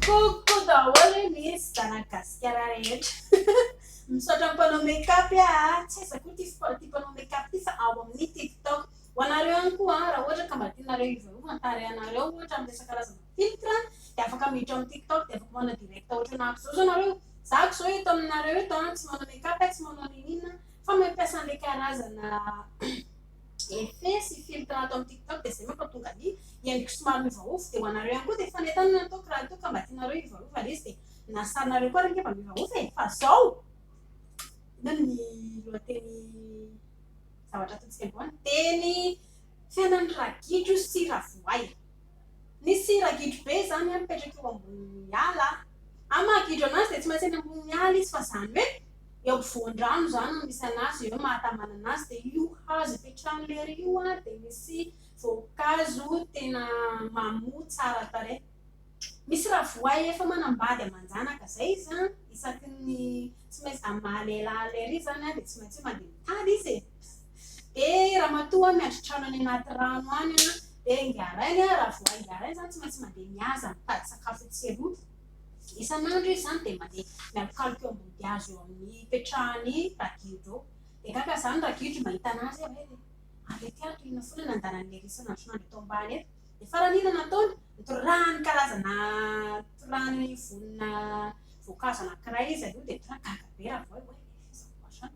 Coucou daholo ny zanak'i Gasikara rehetra. Misaotra ny mpanao make up a! Tsy aiza koa ity sport ity mpanao make up ity fa ao amin'ny tiktok. Ho anareo ihany koa raha ohatra ka mba tianareo hivarovan ny tarehanareo ohatra amin'ny resaka karazana filtre dia afaka miditra ao amin'ny tiktok dia afaka manao direct ohatrana ahy akoizao zao nareo. Za akoizao eto aminareo eto tsy manao make up tsy manao n'inon'inona fa mampiasa an'ilay karazana effet sy filtre ato amin'ny tiktok dia izay manko ahatonga ny endriko somary miovaova dia ho anareo ihany koa dia fanentanana nataoko raha toa ka mba tianareo hivaova ilay izy dia na sarinareo koa ary ange mba miovaova e fa izao inona ny lohateny zavatra ataontsika androany teny fiainan'ny ragidro sy ravoay Misy ragidro be izany an mipetraka eo ambonin'ny ala an! Amin'ny maha gidro an'azy dia tsy maintsy eny ambonin'ny ala izy fa izany hoe eo ampovoan-drano izany no misy an'azy, eo no mahatamana an'azy dia io hazo ipetrahany lery io an dia misy voankazo tena mamoa tsara tarehy. Misy raha voay efa manambady aman-janaka izay izy an, isaky ny tsy maintsy amin'ny maha lehilahy lery izy izany an dia tsy maintsy hoe mandeha mitady izy e! Eh ramatoa miandry trano any anaty rano any an! Eh Ingarain an! Raha vao Ingarain izany tsy maintsy mandeha mihaza mitady sakafo etsy sy eroa. Isan'andro izy izany dia mandeha mialokaloka eo ambody hazo eo amin'ny ipetrahan'i Ragidro eo. Dia gaga izany Ragidro mahita an'azy hoe avy aty ato inona foana no andalan'i Hery isan'andron'andro eto ambany eto. Dia farany inona no ataony? Nitorahany karazana nitorahany vonona voankazo anankiray izy aloha dia tonga dia gaga be Ravoay hoe efa aiza koa izany?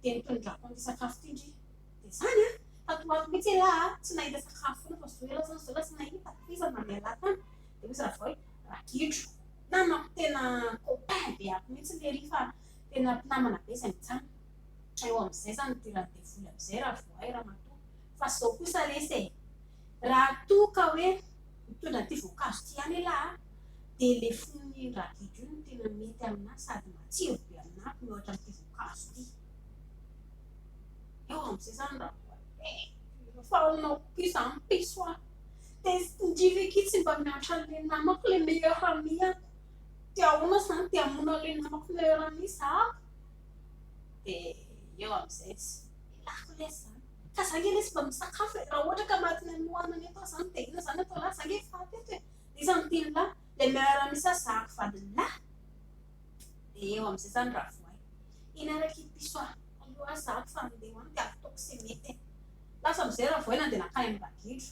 Dia ny tonondrako ny sakafo ty ndry dia zany an! Tato ho ato mihitsy elah a! tsy nahita sakafo foana fa zao elah zany zao lasa nahita, tohizo ary nandeha lahy tany dia hoy Ravao hoe ragidro! namako tena copain be ato mihitsy le ry fa tena mpinamana be zay mijanona eo amizay zany ity randevoly amizay Ravoahay Ramatoa fa zao kosa lesy e! Raha toa ka hoe mitondra ity voankazo ity ihany elah a, dia ilay fonon'iny ragidro iny no tena mety aminah sady matsiro be aminah ko mihoatra amin'ity voankazo ity. Eo amin'izay izany raha voalaiko fa ahoana koa izy hampiso ahy. Dia ndry ve ki tsy mba miantra an'ilay namako ilay meilleur amie aho. Dia ahoana izany dia hamono an'ilay namako meilleur amie izaho? Dia eo amin'izay tsy elako lesy izany. Ka za nge lesy mba misakafo e, raha ohatra ka maty any nohanana eto aho zany dia inona zany atao lahy, za nge efa faty eto e, iza no tian'ny lahy, le miara misa zahako vadin'ny lahy? Dia eo amin'izay zany Ravoay, iny ary akia piso a, aleo aho zahako fa andeha ho any dia ataoko izay mety e, lasa amin'izay Ravoay nandeha nankany amin'ny ragidro,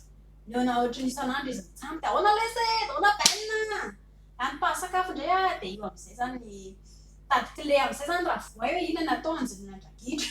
nihaona ohatry ny isan'andro izy mitsam dia ahoana lesy e, ahoana Ben a, lany mpahasakafo indray a, dia io amin'izay zany, nitady kle amin'izay zany Ravoay hoe inona no atao hanjonoana ny ragidro.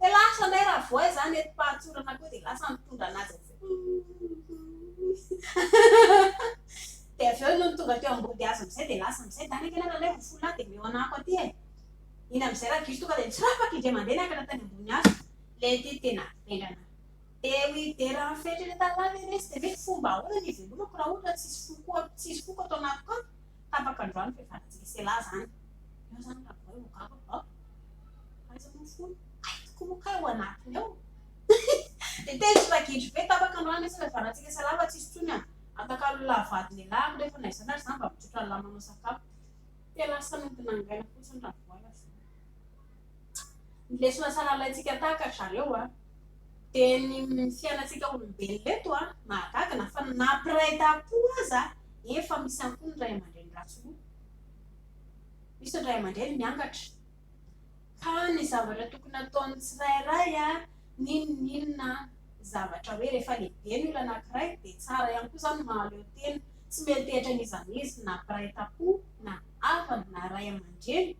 Dia lasa indray Ravoay izany eto Pahatsorana koa dia lasa nitondra an'azy avy eo. Dia avy eo nony tonga teo ambody hazo amin'izay dia lasa amin'izay. Dany ange nareo alaivo fo lahy dia omeo anako aty e. Iny amin'izay Ragiso tonga dia nitsirapaka indray mandeha niakatra tany ambony hazo. Ilay ity tena vendrana. Dia hoy i Dera amin'ny fehitr'ilay tanalahy ve resy dia hoe fomba ahoana ny hivelomako raha ohatra tsisy foko tsisy foko ato anatiko ato? Tapaka androany ny fihavanantsika sela izany. Eo izany raha vao eo angamba fa fa aiza moa fony? Hay tokoa moa kay ao anatiny ao. Dia teny ry ragidro be, tapaka androany ny fihavanantsika sela fa tsisy intsony an! Atakalolahy vady lehilahy ary nefa na izany ary izany mba mitsotra lamba manao sakafo. Te lasa nody nangaina fotsiny raha vao hay aza. ny lesona sahala alaintsika tahaka ry zareo dia ny fiainantsika olombelona eto mahagaga na fa na mpiray tampo aza efa misy ihany koa ny ray aman-dreny ratsy loha, misy ny ray aman-dreny miangatra ka ny zavatra tokony ataon'ny tsirairay n'inon'inona zavatra hoe rehefa lehibe ny olona anankiray dia tsara ihany koa izany ny mahaleo tena, tsy miantehitra an'iza n'iza na mpiray tampo na havana na ray aman-dreny.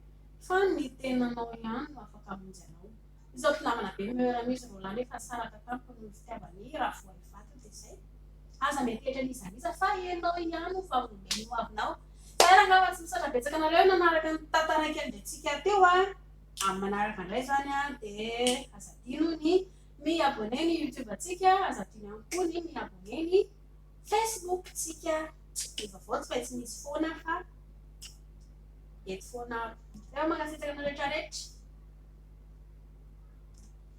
Fa ny tenanao ihany no afaka hamonjy anao. Izaho mpinamana be ny meurt amin'izy roa lahy nefa saraka tamiko noho ny fitiavany raha voay vato dia izay. Aza mety hetra an'iza n'iza fa ianao ihany no fa omeny ho avinao. Zahera angamba tsy misaotra betsaka anareo nanaraka ny tata raiky andriantsika teo a. Amin'ny manaraka indray izany a dia aza adino ny mi abonner ny youtube antsika, aza adino ihany koa ny mi abonner ny. Facebook tsika ny vaovao tsy maintsy misy foana fa eto foana avy. Tena mankasitraka anareo rehetra rehetra.